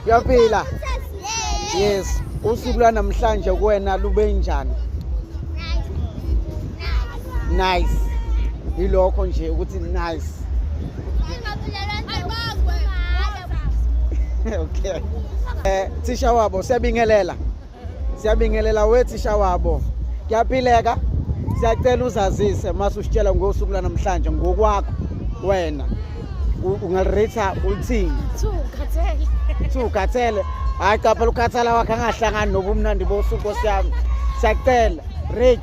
uyaphila yes usuku lwanamhlanje kuwena lube njani nice yilokho nje ukuthi nice okay eh thisha wabo siyabingelela siyabingelela wethisha wabo kuyaphileka siyacela uzazise mase usitshela ngosuku lanamhlanje ngokwakho wena ungalirita ulithini siwukhathele hhayi capha lukhathala wakhe angahlangani nobumnandi bosuku nkosi yami siyacela rate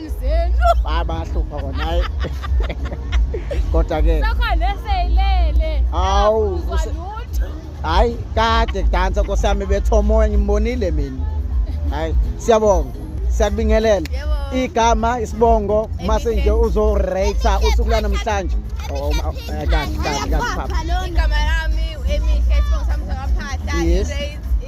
zenu hayi bayahlupha kona hayi kodwa ke sokho neseyilele hawu hayi kade kudansa nkosi yami bethomoya ngimbonile mina hayi siyabonga siyakubingelela igama isibongo mase nje uzorate usuku lanamhlanje oh, oh, oh, eh, kahle kahle kahle igama lami emihle isibongo sami sakaphahla yes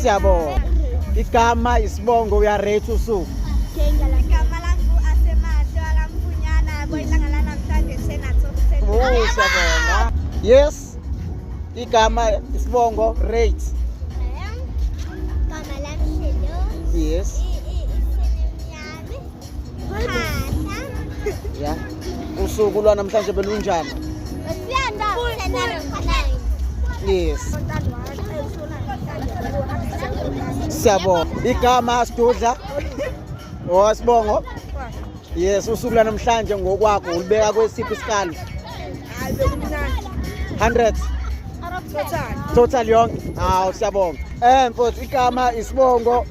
Siyabonga. Igama isibongo uyaretha usuku. Siyabonga. Yes. Igama isibongo rate. Yes. ya usuku lwanamhlanje belunjani yes siyabonga igama asidudla owasibongo yes usuku lwanamhlanje ngokwakho ulibeka kwesiphi isikali 100 total yonke hawu siyabonga um mfowethu igama isibongo